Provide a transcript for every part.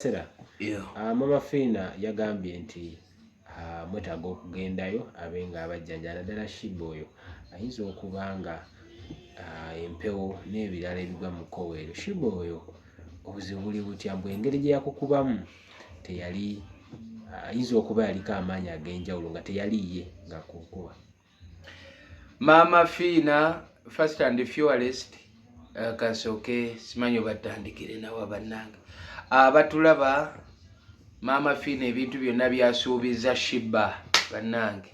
Sera yeah. Uh, mama Fiina yagambye nti uh, mwetaaga okugendayo abe nga abajjanja naddala shiba oyo ayinza okuba nga uh, empewo n'ebirala ebigwa mu koweero shiba oyo obuzibu buli butya mbu engeri gye yakukubamu teyali ayinza uh, okuba yaliko amaanyi ag'enjawulo nga teyali ye ngakukuba Maama Fiina first and fewalest eh, kasooke simanyi obatandikire nawa bannange abatulaba ah, maama Fiina ebintu byonna byasuubiza shiba bannange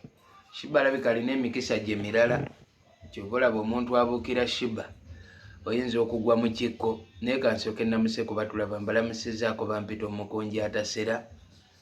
shiba alabika alina emikisa gye mirala kyova olaba omuntu abuukira shiba oyinza okugwa mu kikko naye kansooke namuse kubatulaba mbalamusizaako bampita omukunja atasera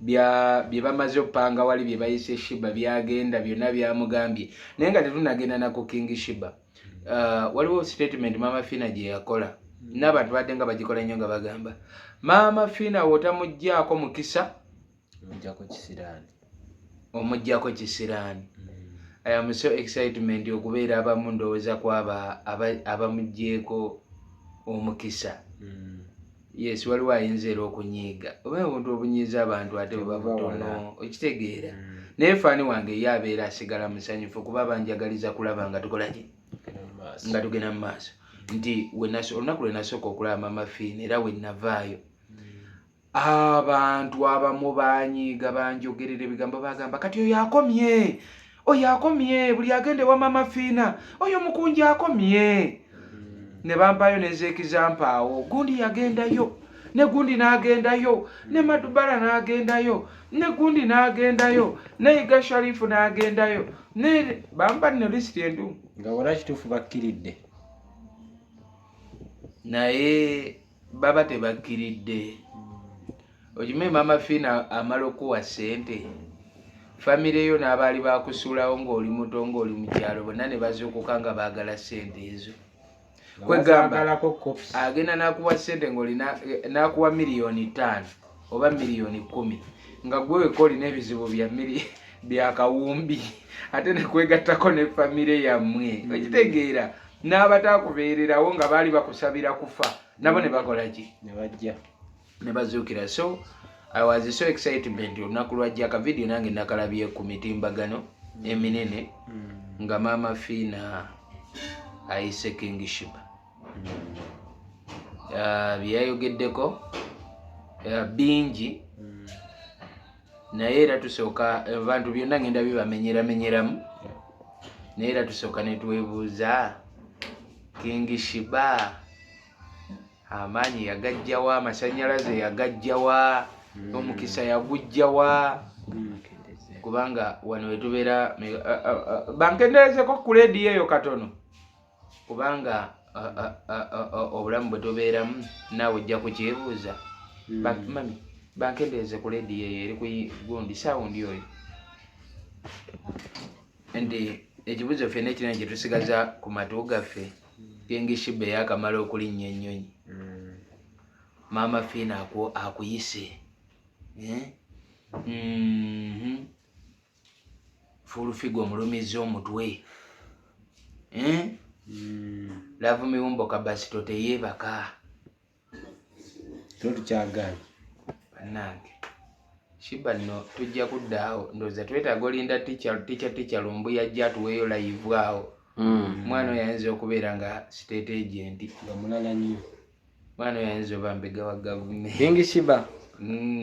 byebamaze opanga wali byebayise shiba byagenda byonna byamugambye naye nga tetunagenda naku king shiba uh, waliwo statement mama fina gyeyakola nabantu badde nga bagikola nnyo nga bagamba mama fina wotamugjaako mukisa omugjaako kisiraani i am so excitement okubeera abamu ndowooza kwaba abamugjeeko omukisa mm. yes waliwo ayinza era okunyiiga oba obuntu obunyiiza abantu ate bwebabutono okitegeera mm. naye faani wange ye abeera asigala musanyufu kuba banjagaliza kulaba nga tukolaki nga tugenda mu maaso nti olunaku lwe nasooka okulaba mama fiina era we navaayo mm. abantu abamu banyiiga banjogerera ebigambo bagamba kati oyo akomye oyo akomye buli agenda ewa mama fiina oyo mukunji akomye ne bampayo nezekizampaawo gundi yagendayo ne gundi nagendayo ne madubala nagendayo ne gundi nagendayo ne iga sharifu nagendayo ne bampa nno lisiti endu nga wala kituufu bakkiridde naye baba tebakkiridde okimanyi maama fiina amala okukuwa ssente famire yo n'abaali bakusuulawo ng'oli muto ng'oli mu kyalo bonna ne bazuukuka nga baagala ssente ezo kwegamba agenda n'akuwa ssente ng'oli n'akuwa miliyoni ttaano oba miliyoni kumi nga gwe weka olina ebizibu bya miri byakawumbi ate nekwegattako ne famire yammwe mm. okitegeera n'abataakubeererawo nga baali bakusabira kufa nabo ne bakola ki ne bajja ne bazuukira so i was so excitement olunaku lwajja akavidiyo nange nakalabye ku mitimbagano mm. eminene mm. nga maama fiina ayise kingishiba ah, bye yayogeddeko ah, bingi mm. naye era tusooka abantu byonna ngenda bibamenyeramenyeramu naye era tusooka netwebuuza kingi shiba amaanyi yagajjawa amasanyalaze yagajjawa hmm. omukisa yagujjawa hmm. kubanga wano wetubeera bankenderezeko ku lediyo eyo katono kubanga obulamu bwe tubeeramu naawe ojja kukyebuuza hmm. mami bankendeeze ku lediyo eyo eri kugundi sawundi oyo nti ekibuzo ffe nekirina kyetusigaza ku matu gaffe kengishiba eyakamala okulinnya ennyonyi hmm. maama fiina akuyise eh? mhm. fulufiga omulumiza omutwe eh? hmm. lavu miwumbo kabasito teyebaka totukyagala banange shiba no tujja kudda awo ndoza twetaaga olinda ticha ticha ticha lumbu yajja atuweeyo layivu awo hmm. mwana oyo ayinza okubeera nga state agent nga mulala nnyo mwana oyo ayinza oba mbega wa gavumenti ingi shiba hmm.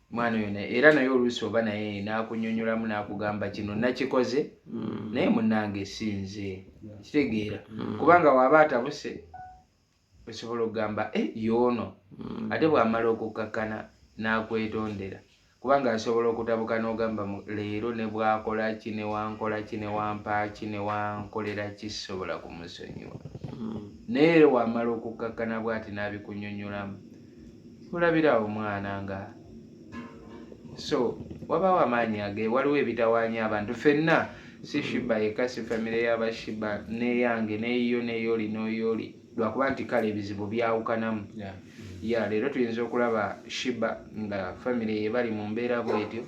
mwana oyo naye era naye oluusi oba naye n'akunyonyolamu n'akugamba kino nakikoze mm. naye munange sinze kitegeera mm. kubanga waaba atabuse osobola okugamba e yoono mm. ate bw'amala okukkakkana n'akwetondera kubanga asobola okutabuka n'ogamba leero ne bwakola ki ne wankola ki ne wampaaki ne wankolera ki sisobola kumusonyiwa naye era wamala okukkakkana bw'ati n'abikunyonyolamu olabira awo mwana nga so wabawo amaanyi age waliwo ebitawaanya abantu fenna si shiba yeka si famire yabashiba neyange neyiyo neyoli noyoli lwakuba nti kale ebizibu byawukanamu ya leero tuyinza okulaba shiba nga famire yebali mu mbeera bwetyo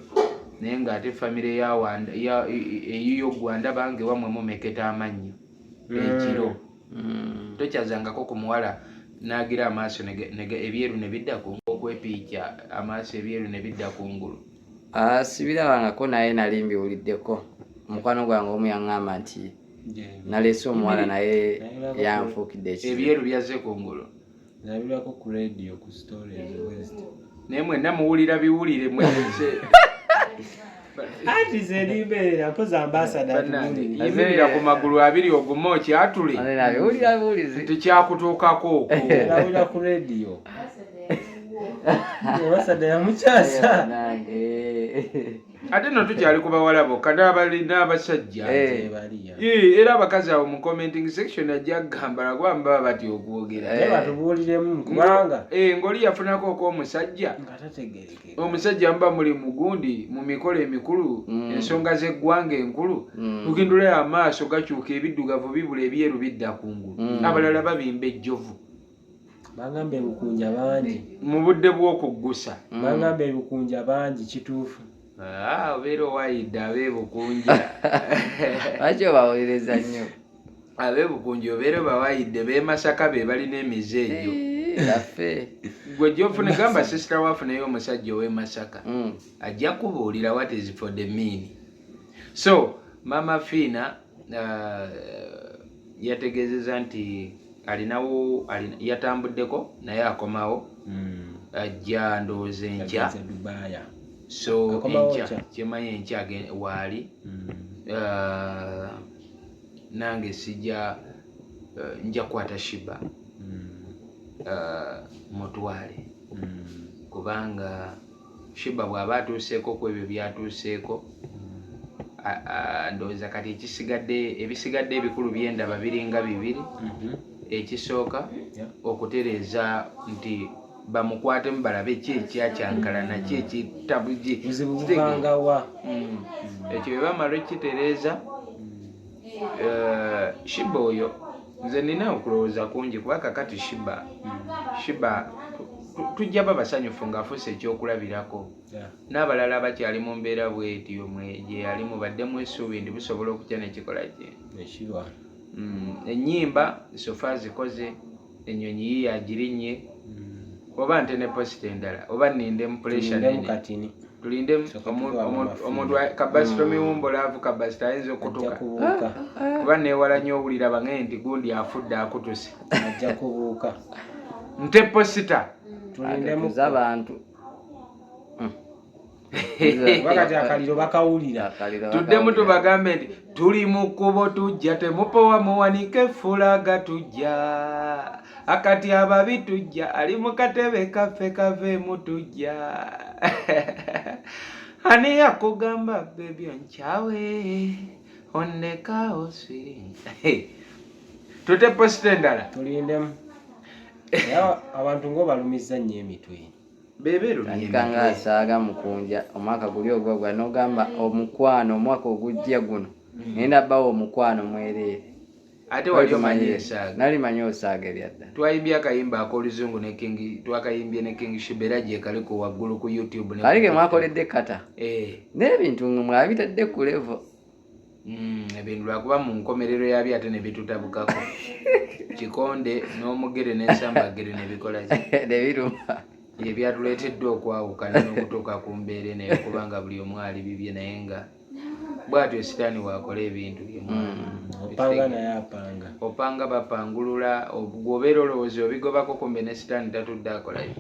naye nga ate famire eyiyo gwanda bange wamwe mumeketa amannyo ekiro mm. mm. tokyazangako ku muwala n'agira amaaso ebyeru ne bidda ku okwepiikya amaaso ebyeru ne bidda ku ngulu ah, sibirabangako naye nali mbiwuliddeko omukwano gwange omu yaŋŋamba nti naleese omuwala naye yanfuukidde ebyeru byazze ku ngulu Nabirako ku radio ku story ya West. Naye mwenna muwulira biwulire mwenje. Ati zeribeera koza ambassador tunani. Yimirira ku magulu abiri ogume okyatule. Alina biwulira biwulizi. Tukyakutuukako okwo. Nabira ku radio. Ambassador ya mukyasa. ate no tukyali ku bawala bokka n'abalina abasajja eh. era abakazi abo mu commenting section ajja kugamba lwakuba mbaba batya okwogera eh. batubuuliremu kubanga eh, ng'oli yafunako okw'omusajja omusajja muba muli mugundi mu mikolo emikulu mm. ensonga z'eggwanga enkulu tukindulayo mm. amaaso gakyuka ebiddugavu bibula ebyeru bidda kungulu mm. abalala babimba ejjovu bangamba ebukunja bangi mu budde bw'okuggusa mm. bangamba ebukunja bangi kituufu ah, obeera owayidde abeebukunja lwaki obawuliriza nnyo abeebukunja obeera obawayidde beemasaka be balina emize egyo yaffe gwe gyofuna gamba sisita wafunayo omusajja ow'emasaka mm. ajja kubuulira what is for the mean so mama fiina uh, yategeezeza nti alinawo yatambuddeko naye akomawo hmm. ajja ndowooza enkya so enkya kyemanyi enkya waali hmm. uh, nange sija uh, nja kukwata shiba hmm. mutwale kubanga Sheebah bw'aba atuuseeko ku ebyo by'atuuseeko ndowooza kati ekisigadde ebisigadde ebikulu byendaba biringa bibiri mhm. ekisooka okutereeza nti bamukwatemu balabe ki ekyakyankalana ki ekitabuji mm. ekyo bebamala ekitereeza eh, shiba oyo nze nina okulowooza kungi kuba kakati shiba shiba tujja ba basanyufu ng'afuuse ekyokulabirako n'abalala abakyali mu mbeera bwetyo gye yalimu baddemu esuubi nti busobola okutya nekikola kye mm, ennyimba sofa zikoze enyonyi yiyo agirinnye hmm. oba nte ne posita endala oba ninde mupuleshanenetulinde omuntu kabasita hmm. omiwumbula avu kabasita ayinza okutuka kuba newala nyo owulira bange nti gundi afudde akutuse ajja kubuuka nte posita tulinde mukuza abantu bakati akaliro bakawulira tuddemu tubagambe nti tuli mu kkubo tujja temupowa muwanike fulaga tujja akati ababi tujja ali mu katebe kaffe kaveemu tujja ani yakugamba bebi onkyawe onnekaawo siri tute posita endala tulindemu abantu ngaobalumiza nnyo emitwe tandika nga asaaga mukunja omwaka guli ogwagwa nogamba omukwano omwaka ogujja guno nenda mm. bawo omukwano mwereere ate wali omanyi esaaga nali manyi osaaga ebyadda twayimbye akayimba akoluzungu ne king twakayimbye ne king shibera gye kaliko waggulu ku youtube kali ke mwakoledde kata eh. n'ebintu mwabitadde ku levo Mm, ebintu lwakuba mu nkomerero yabyo ate nebitutabukako kikonde n'omugere n'ensambagere nebikola nebiruma ebyatuleeteddwa okwawukana n'okutuuka ku mbeera eno eyokuba nga buli omu ali bibye naye nga bwatyo esitaani wakola ebintu byemwaopanga mm, opanga bapangulula gwobeera olowooza obigobako kumbe ne sitaani tatudde akolayo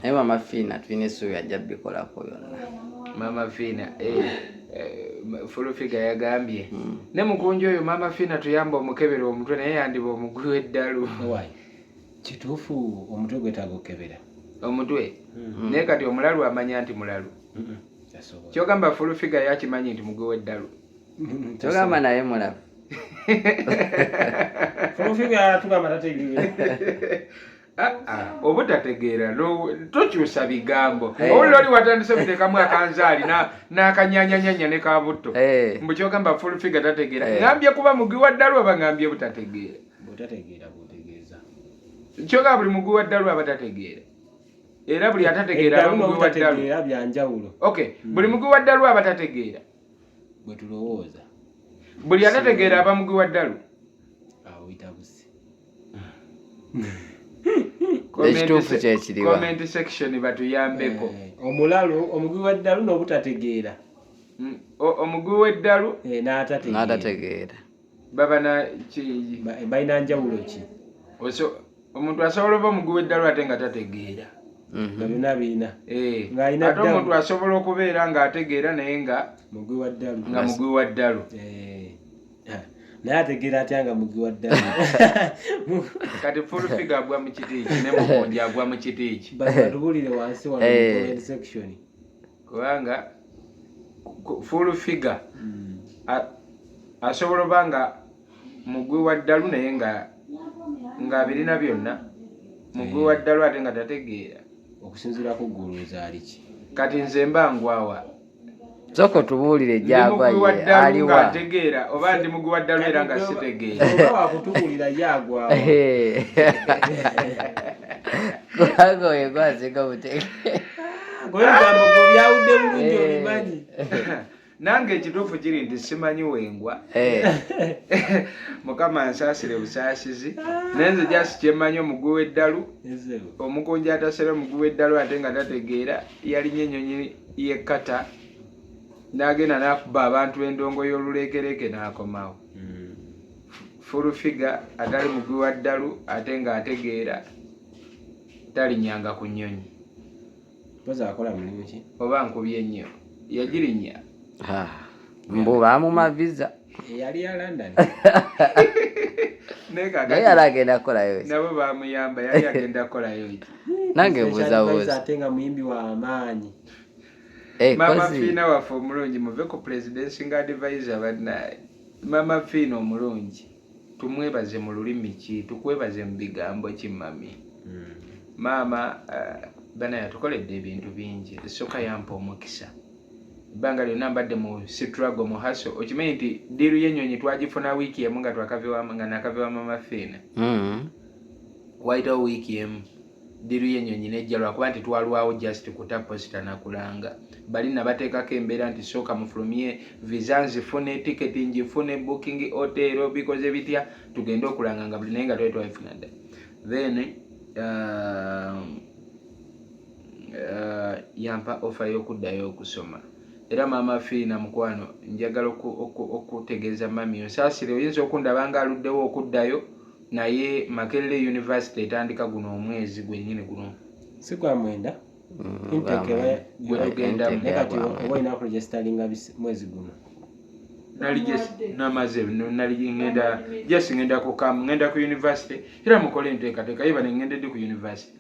naye mama fiina tulina essuubi ajja bikolako byonna mama fiina eh. Eh, fulufiga yagambye hmm. ne mukunja oyo maama fiina tuyamba omukebera omutwe naye yandiba omugwi w'eddalu kituufu omutwe gwetaaga okukebera omutwe hmm. naye kati omulalu amanya nti mulalu hmm. kyogamba fulufiga yakimanyi nti mugwi w'eddalu kyogamba naye mulalu fulufiga tugamba tategeera Ah, ah, obutategeera tokyusa bigambo eh. owulira oli watandise muteekamu akanzaali n'akanyanyanyanya ne kabutto eh. mbu kyogamba full figure tategeera eh. ngambye kuba mugi wa ddalu aba ngambye butategeera kyoga buli mugi wa ddalu aba tategeera era buli atategeera hmm. buli mugi wa ddalu aba tategeera buli atategeera aba mugi wa ddalu awo bitabuse ekituufu kyekiriwa comment section batuyambeko eh, omulalu omugwi w'eddalu n'obutategeera mm, omugwi w'eddalu eh, n'atategeera baba na balina njawulo ki omuntu asobola oba omugwi w'eddalu ate nga tategeera mhm. byonna birina eh, ate omuntu asobola okubeera ng'ategeera naye nga mugwi wa ddalu naye ategeera atya nga mugi wa ddala kati fulfiga agwa mu kiti eki ne mukunja agwa mu kiti eki batubulire wansi wano eh. comment section kubanga fulfiga hmm. asobola oba nga mugwi wa ddalu naye nga ng'abirina byonna mugwi wa eh. ddalu ate nga tategeera okusinziira ku ggulu ezaaliki kati nze mba ngwawa Soko tubuulire gyagwa ye aliwa ategeera oba ndi muguwa ddalu era nga sitegeera wakutubuulira yagwa kubanga oyo gwasinga mutegeerabyawudde bulungi obimanyi nange ekituufu kiri nti simanyi wengwa eh. mukama nsaasire busaasizi naye nze jasi kyemanyi omuguwa eddalu omukunja atasera omuguwa eddalu ate nga tategeera yalinye ennyonyi ye kata n'agenda n'akuba abantu endongo y'oluleekereeke n'akomawo hmm. full figa atali mugwi wa ddalu ate ng'ategeera talinyanga ku nnyonyi oba nkubye nnyo yagirinya mbu bamuma visa eyali ya london naye yali agenda kukolayo nabo bamuyamba yali agenda kukolayo nange buzabuza ate nga muyimbi wa maanyi eh, mama fiina waffe omulungi muve ku presidency nga advisor bannaye mama fiina omulungi tumwebaze mu lulimi ki tukwebaze mu bigambo ki mami hmm. maama eh, bana yatukoledde ebintu bingi esooka yampa omukisa ebbanga lyonna mbadde mu sitrago mu haso okimanyi nti diiru y'ennyonyi twagifuna wiiki emu nga nga nakaviwa mama fiina mm-hmm. wayitawo wiiki emu diiru y'ennyonyi nejja lwakuba nti twalwawo just kuta posita nakulanga bali nabateekako embeera nti sooka mufulumye visa nzifune tiketi ngifune booking otero bikoze bitya tugende okulanga nga buli naye nga twali twabifuna dda then uh, uh, yampa ofa y'okuddayo okusoma era maama fiina mukwano njagala okutegeeza oku, oku, mami onsaasire oyinza okundaba nga aluddewo okuddayo naye makerere university etandika guno omwezi gwennyini guno si gwa mwenda mm, namaze naliŋenda just ŋenda kukamu ŋenda ku university era mukole enteekateeka yebane ŋenda eddi ku university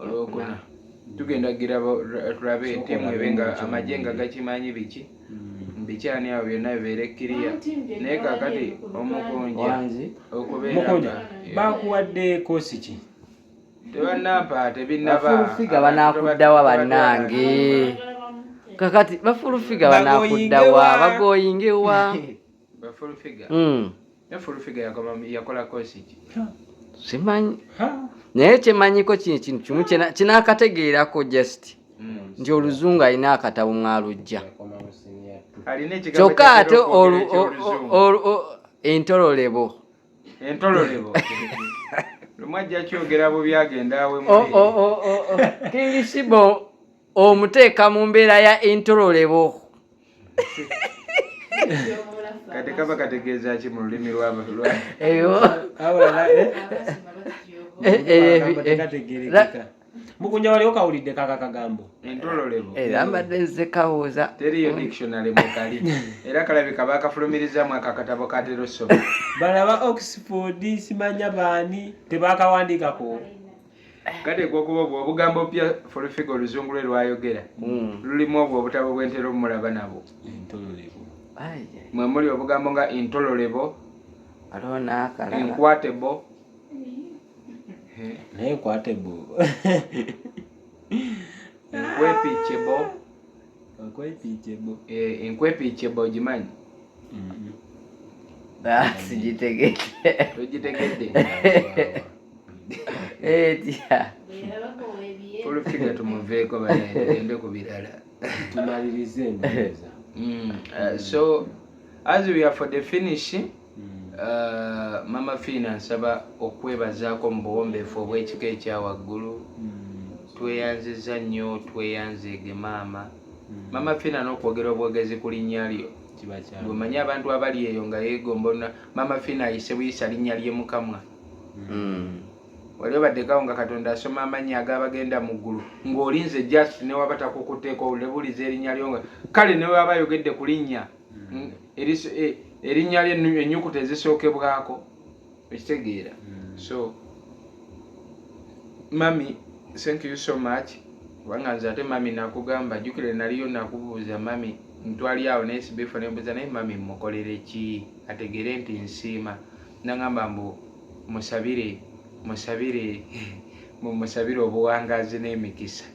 olwokuna tugenda gira tulabe tiimu ebe nga amagye nga gakimanyi biki hmm. biki ani awo byonna bibeere kiriya naye kakati omukunja okubeera bakuwadde koosi ki bafulufiga banakuddawa bannange kakati bafulufiga banakuddawa bagoyingewa Ba full figure. Mm. Ne full figure yakoma yakola course ki? Simanyi. Naye kyemanyiko kino kintu kimu kinakategeerako just mm. nti oluzungu alina akatabo mwalujja kyokka ate entololebo entololebo lumu ajja kyogera bubi agenda awemukingisibo omuteeka mu mbeera ya entololebo kati kaba kategeeza ki mu lulimi lwabatu lwategerekeka mukunja waliwo kawulidde kaka kagambo entololebo era eh, mbadde nze kawuuza teriyo dictionary mukali era kalabika bakafulumirizamu ako akatabo katera osoma balaba oxford simanya baani tebakawandiikako kati gwokuba obwo obugambo pya folufiga oluzungu lwe lwayogera hmm. lulimu obwo obutabo bwentera omulaba nabo mwe muli obugambo nga intololebo enkwatebo naye enkwatebo enkwepicebo enkwepicebo ogimanyi eh, mm-hmm. ah, sigitegedde togitegedde olufiga tumuveeko bagende ku birala tumalirize embeeza mm, uh, so as we are for the finish mm. uh, mama fiina nsaba okwebazaako mu buwombeefu obw'ekika ekyawaggulu mm. tweyanziza nnyo tweyanzeege maama mama fiina n'okwogera obwogezi ku linnya lyo gwemanyi abantu abali eyo nga yegomba mama fiina ayise buyisa linnya lye mukamwa mm. wali obaddekawo nga katonda asoma amannya agabagenda mu ggulu ng'olinze just newaba takukuteeka owulebuliza erinnya lyo nga kale newaba ayogedde ku linnya mm. e, erinnya lye ennyukuta ezisookebwako ekitegeera mm. so mami thank you so much kubanga nze ate mami nakugamba jukire naliyo nakubuuza mami ntwali awo naye sibifa nembuuza naye mami mukolere ki ategere nti nsiima nangamba mbu musabire musabire mumusabire obuwangazi n'emikisa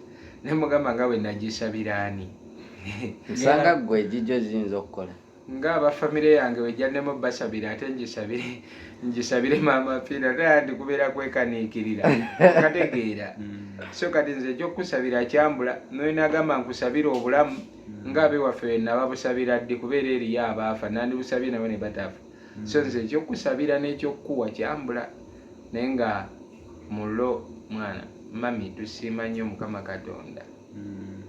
naye mugamba nga bwenagisabira ani nsanga gwe ejijo ziyinza okukola nga aba famire yange wejjannemu basabire ate ngisabire ngisabire maama fiina naye ndikubeera kwekaniikirira kategeera mm. so kati nze ekyokusabira kyambula noyo nagamba nkusabire obulamu mm. nga abewaffe wenababusabira ddi kubeera eriyo abaafa nandibusabye nabo ne batafa so nze ekyokusabira nekyokukuwa kyambula naye nga mulo mwana mami tusiima nnyo mukama katonda mm.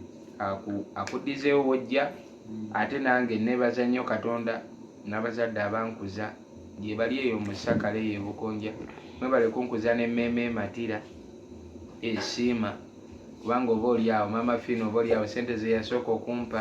akudizeewo wojja mm. ate nange nebaza nnyo katonda nabazadde abankuza gyebali eyo musakale eyo ebukonja mwebale kunkuza nemeeme ematira esiima kubanga oba olyawo mama fina oba olyawo sente zeyasooka okumpa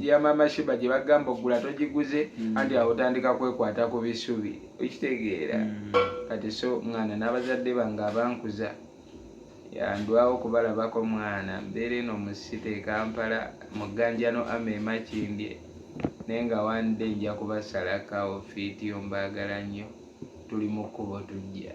ya mama shiba gye bagamba ogula togiguze mm. anti awo otandika kwekwata ku bisubi okitegeera mm. kati so mwana n'abazadde bange abankuza yandwawo kubalabako mwana mbeera eno mu site ekampala mu gganjano ama emakindye naye nga one day nja kubasalakawo fiiti yo mbaagala nnyo tuli mu kkubo tujja